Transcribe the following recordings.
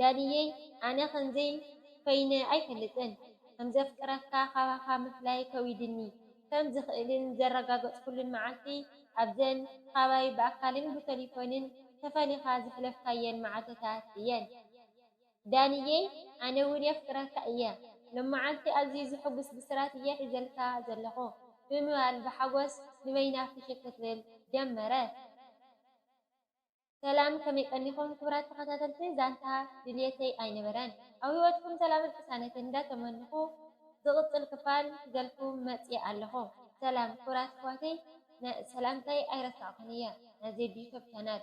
ዳኒየይ ኣነ ከምዚይ ኮይነ ኣይፈልጥን ከምዘፍቅረካ ካባካ ምፍላይ ከዊድኒ ከም ዝክእልን ዘረጋገፅኩሉን መዓልቲ ኣብዘን ካባይ ብኣካልን ብቶሊፎንን ተፈሊካ ዘሕለፍካየን መዓልትታት እየን ዳኒየይ ኣነ እውን የፍቅረካ እየ ሎማዓልቲ ኣዝዩ ዝሕጉስ ብስራት እየ ሒዘልካ ዘለኩ ብምባል ብሓጎስ ንበይና ፍሽክ ክትብል ጀመረት። ሰላም ከመይ ቀኒኹም ክብራት ተኸታተልቲ ዛንታ ድልየተይ ኣይነበረን ኣብ ሂወትኩም ሰላምን ቅሳነትን እንዳ ተመንኹ ዝቅጽል ክፋል ሒዘልኩም መጽየ ኣለኹ። ሰላም ክብራት ኣሕዋተይ ሰላምታይ ኣይረሳዕኩን እየ ናይ ዜዱ ዩቶብ ቻናል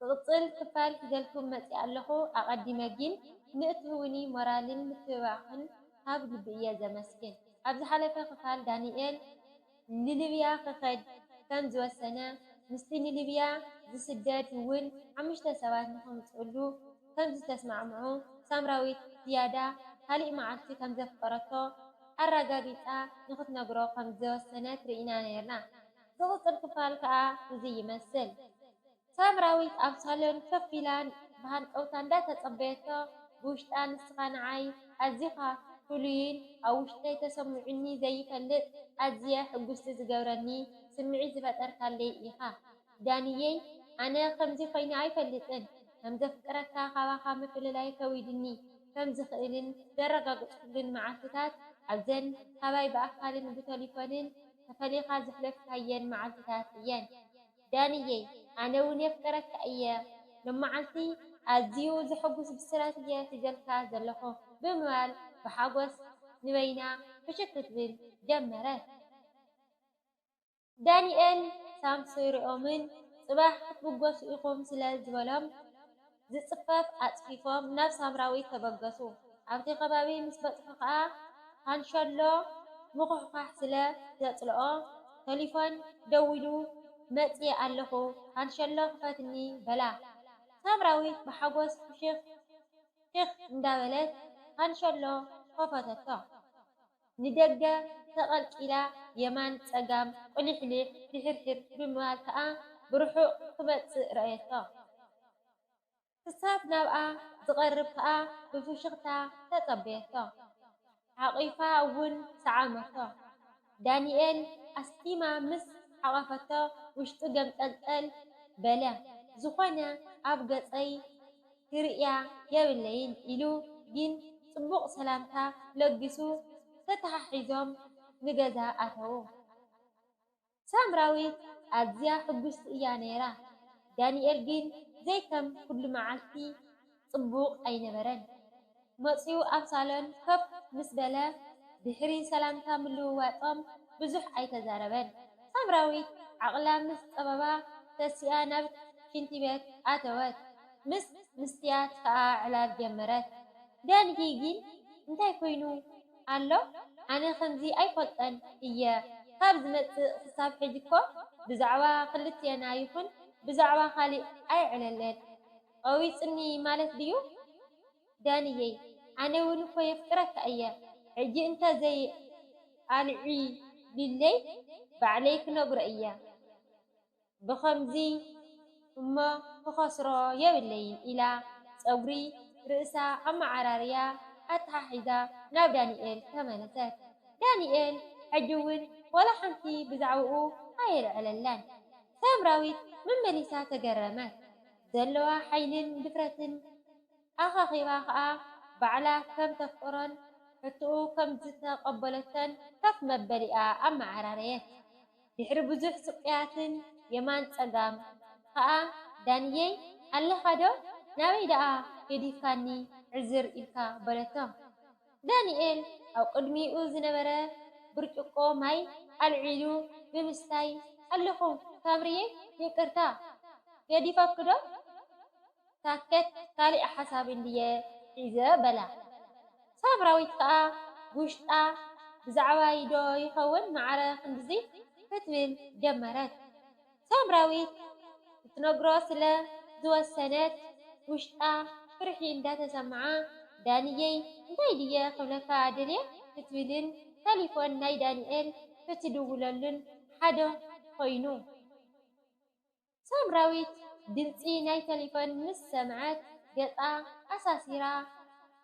ዝቅጽል ክፋል ሒዘልኩም መጽየ ኣለኹ ኣቀዲመ ጊን ንእትህቡኒ ሞራልን ምትብባዕክን ካብ ልቢ እየ ዘመስግን ኣብ ዝሓለፈ ክፋል ዳኒኤል ንሊብያ ክኸድ ከም ዝወሰነ ምስቲ ንሊብያ ዝስደድ ውን ሓሙሽተ ሰባት ንኸምጽእሉ ከም ዝተስማዕምዑ ሳምራዊት ዝያዳ ካልእ መዓልቲ ከም ዘፍቀረቶ ኣራጋጊጻ ንኽትነግሮ ከም ዝወሰነት ርኢና ኔርና ዝቕጽል ክፋል ከኣ እዚ ይመስል። ሳምራዊት ኣብ ሳሎን ከፍ ኢላ ብሃንቀውታ እንዳተጸበየቶ ብውሽጣ ንስኻ ንዓይ ኣዚኻ ፍሉይን ኣብ ውሽጠይ ተሰሚዑኒ ዘይፈልጥ ኣዝየ ሕጉስቲ ዝገብረኒ ስምዒት ዝፈጠርካለይ ኢኻ ዳኒየይ ኣነ ከምዚ ኮይነ ኣይፈልጥን ከምዘፍቅረካ ካባኻ ምፍልላይ ከዊድኒ ከምዝኽእልን ዘረጋግጽኩሉን መዓልትታት ኣብዘን ካባይ ብኣካልን ብተሊፎንን ተፈሊኻ ዘሕለፍካየን መዓልትታት እየን። ዳኒየይ ኣነ ውን የፍቅረካ እየ ሎማዓንቲ ኣዝዩ ዘሕጉስ ብስራት እየ ሒዘልካ ዘለኩ ብምባል ብሓጎስ ንበይና ፍሽክ ክትብል ጀመረት። ዳኒኤል ሳምሶይ ሪኦምን ጽባሕ ክትብገሱ ኢኩም ስለ ዝበሎም። ዝጽፈፍ ኣጽፊፎም ናብ ሳምራዊት ተበገሱ። ኣብቲ ከባቢ ምስ በጽሑ ከኣ ካንሸሎ ምኹሕኳሕ ስለ ዘጽልኦ ተሊፎን ደዊሉ መጺኤ ኣለኹ ካንሸሎ ክፈትኒ በላ። ሳምራዊት ብሓጎስ ፍሽኽ ኺኽ እንዳበለት ካንሸሎ ከፈተቶ። ንደገ ተቐልቂላ የማን ጸጋም ቁሊሕሊሕ ፊሕርሒር ብምባል ከኣ ብርሑቕ ክመጽእ ረኣየቶ። ክሳብ ናብኣ ዝቐርብ ከኣ ብፍሽኽታ ተጸበየቶ። ሓቒፋ እውን ሰዓመቶ። ዳኒኤል ኣስጢማ ምስ ሓቐፈቶ ውሽጡ ገምጠልጠል በለ። ዝኾነ ኣብ ገጸይ። ክርእያ የብለይን ኢሉ ግን ጽቡቕ ሰላምታ ለጊሱ ተተሓሒዞም ንገዛ ኣተዉ። ሳምራዊት ኣዝያ ሕጉስቲ እያ ነይራ፣ ዳኒኤል ግን ዘይከም ኩሉ መዓልቲ ጽቡቕ ኣይነበረን። መጺኡ ኣብ ሳሎን ኮፍ ምስ በለ ድሕሪ ሰላምታ ምልውዋጦም ብዙሕ ኣይተዛረበን። ሳምራዊት ዓቕላ ምስ ጸበባ ተሲኣ ናብ ሽንቲ ቤት ኣተወት። ምስ ምስትያት ከኣ ዕላል ጀመረት። ዳንኪ ግን እንታይ ኮይኑ ኣሎ ኣነ ከምዚ ኣይፈልጦን እየ ካብ ዝመጽእ ክሳብ ሕጂኮ ብዛዕባ ክልቴና ይኹን ብዛዕባ ካሊእ ኣይዕለለን። ቀዊጽኒ ማለት ድዩ ዳኒየይ ኣነ ውን እኮ የፍቅረካ እየ ሕጂ እንተ ዘይ ኣልዒሊለይ ባዕለይ ክነግሮ እየ ብከምዚ እሞ ክከስሮ የብለይን ኢላ ጸጉሪ ርእሳ ኣማዓራርያ ኣታሓሒዛ ናብ ዳኒኤል ተመለሰት ዳኒኤል ሕጂ ውን ወላ ሓንቲ ብዛዕብኡ ኣየልዐለላን ሳምራዊት መመሊሳ ተገረመት። ዘለዋ ሓይሊን ድፍረትን ኣኻኺባ ከኣ ባዕላ ከም ተፍቅሮን ሕቶኡ ከም ዝተቐበለቶን ከፍ መበሊኣ ኣመዓራረየት። ድሕሪ ብዙሕ ስቅያትን የማን ጸጋም ከኣ ዳኒየይ ኣለኻዶ ናበይ ደኣ ገዲፍካኒ ዕዝር ኢልካ በለቶ። ዳንኤል ኣብ ቅድሚኡ ዝነበረ ብርጭቆ ማይ ኣልዒሉ ብምስታይ፣ ኣለኹ ሳምርየይ፣ ይቅርታ ገዲፈኪ'ዶ? ታከት ካሊእ ሓሳብ እንድየ ሒዘ በላ። ሳምራዊት ከኣ ብውሽጣ ብዛዕባይ'ዶ ይኸውን ማዕረ ክንድዚ ክትብል ጀመረት። ሳምራዊት ክትነግሮ ስለ ዝወሰነት ውሽጣ ፍርሒ እንዳተሰምዓ ዳኒየይ እንታይ ድየ ክብለካ ደልየ ክትብልን ተሊፎን ናይ ዳኒኤል ክትድውለሉን ሓደ ኮይኑ። ሳምራዊት ድምጺ ናይ ተሊፎን ምስ ሰምዐት ገጻ ኣሳሲራ።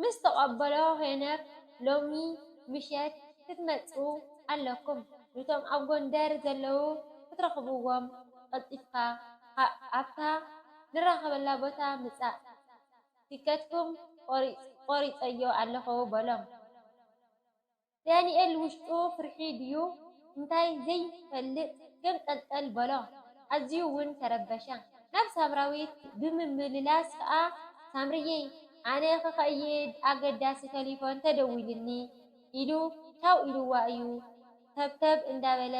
ምስ ተቀበሎ ሄኖክ ሎሚ ምሸት ክትመጹ ኣለኩም ንቶም ኣብ ጎንደር ዘለዉ ክትረክብዎም ቀልጢፍካ ኣብታ ንራከበላ ቦታ ምጻእ ቲከትኩም ቆሪጸዮ ኣለኩ በሎም። ዳኒኤል ውሽጡ ፍርሒ ድዩ እንታይ ዘይፈልጥ ገምጠልጠል በሎ። ኣዝዩ ውን ተረበሸ። ናብ ሳምራዊት ብምምልላስ ከኣ ሳምርየይ ኣነ ክኸይድ ኣገዳሲ ተሊፎን ተደዊሉኒ ኢሉ ቻው ኢሉዋ እዩ ተብተብ እንዳበለ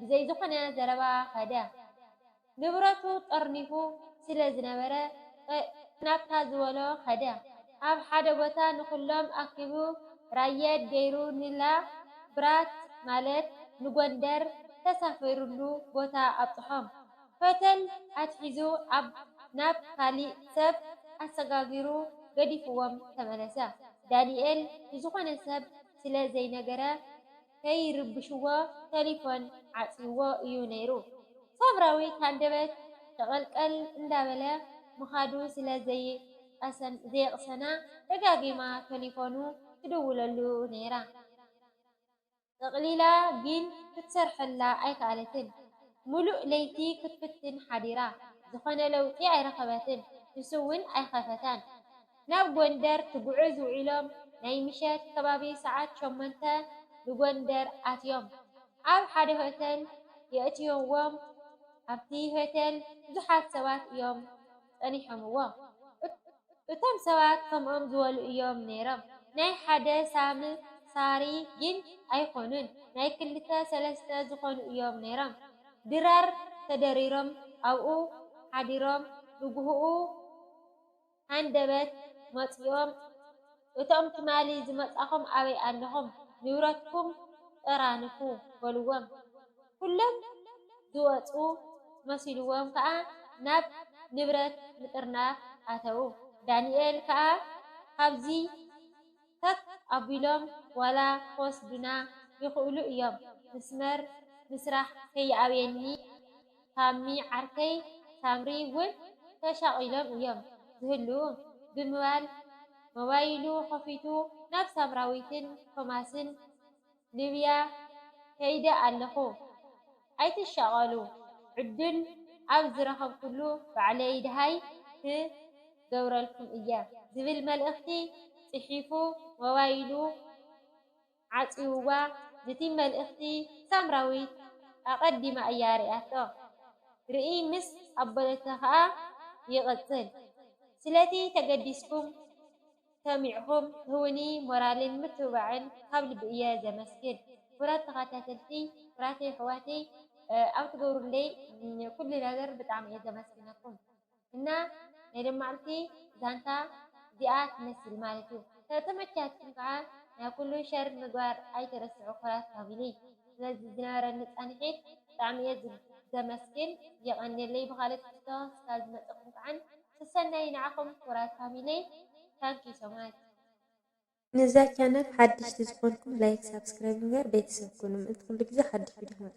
ብዘይ ዝኾነ ዘረባ ከደ። ንብረቱ ጠርኒፉ ስለ ዝነበረ፣ ናብታ ዝበሎ ከደ። ኣብ ሓደ ቦታ ንኹሎም ኣኪቡ ራየድ ገይሩ ንላ ብራት ማለት ንጎንደር ተሳፊሩሉ ቦታ ኣብጽሖም። ሆተል ኣትሒዙ ኣብ ናብ ካሊእ ሰብ ኣሰጋጊሩ ገዲፉዎም ተመለሰ። ዳኒኤል ንዝኾነ ሰብ ስለ ዘይነገረ፣ ከይርብሽዎ ተሊፎን ዓጽይዎ እዩ ነይሩ። ሳምራዊት ሃንደበት ሸቐልቀል እንዳበለ ምኻዱ ስለ ዘየቕሰና ደጋጊማ ተሊፎኑ ትድውለሉ ነይራ። ጠቕሊላ ግን ክትሰርሐላ ኣይከኣለትን። ምሉእ ለይቲ ክትፍትን ሓዲራ። ዝኾነ ለውጢ ኣይረኸበትን። ንሱ'ውን ኣይኸፈታን። ናብ ጎንደር ትጉዕዝ ውዒሎም ናይ ምሸት ከባቢ ሰዓት ሸሞንተ ንጎንደር ኣትዮም ኣብ ሓደ ሆቴል የእትይዎም ኣብቲ ሆቴል ብዙሓት ሰባት እዮም ጸኒሖምዎ እቶም ሰባት ከምኦም ዝበሉ እዮም ነይሮም ናይ ሓደ ሳም ሳሪ ግን ኣይኮኑን ናይ ክልተ ሰለስተ ዝኾኑ እዮም ነይሮም ድራር ተደሪሮም ኣብኡ ሓዲሮም ንጉሆኡ ሃንደበት መጽዮም እቶም ትማሊ ዝመጻኹም ኣበይ ኣለኹም ንብረትኩም ጠራንፉ በልዎም ኩሎም ዝወጹ መሲልዎም ከኣ ናብ ንብረት ምጥርናፍ ኣተዉ ዳንኤል ከኣ ካብዚ ተክ ኣቢሎም ዋላ ክወስዱና ይክእሉ እዮም ምስመር ምስራሕ ከይኣብየኒ ታሚ ዓርከይ ሳምሪ ውን ተሻቂሎም እዮም ዝህልዉ ብምባል ሞባይሉ ከፊቱ ናብ ሳምራዊትን ቶማስን ሊብያ ከይደ ኣለኹ ኣይትሻቐሉ ዕዱል ኣብ ዝረኸብኩሉ ባዕለይ ደሃይ ክገብረልኩም እየ። ዝብል መልእኽቲ ጽሒፉ ሞባይሉ ዓጽዩዋ ነቲ መልእኽቲ ሳምራዊት ኣቐዲማ እያ ሪኣቶ ርእይ ምስ ኣበለቶ ከኣ ይቕጽል ስለቲ ተገዲስኩም ሰሚዕኩም ትህቡኒ ሞራልን ምትብባዕን ካብ ልቢ እየ ዘመስግን ክቡራት ተኸታተልቲ ክቡራት የሕዋተይ ኣብ ትገብሩለይ ኩሉ ነገር ብጣዕሚ እየ ዘመስግነኩም እና ናይ ሎማዕልቲ ዛንታ እዚኣ ትመስል ማለት እዩ ተተመቻትኩም ከዓ ናይ ኩሉ ሸር ምግባር ኣይትረስዑ ክቡራት ፋሚሊ ስለዚ ዝነበረኒ ፃንሒት ብጣዕሚ እየ ዘመስግን የቐንየለይ ብካልእ ትሕዝቶ እስካብ ዝመፀኩም ከዓ ሰሰናዩ ንዓኹም ክቡራት ፋሚልየይ Thank you so much። ንዛ ቻነል ሓድሽቲ ዝኮንኩም ላይክ ሳብስክራይብ ብምግባር ቤተሰብ ኩኑ ምእንቲ ኩሉ ግዜ ሓድሽ ቪድዮ ክመፀኩም።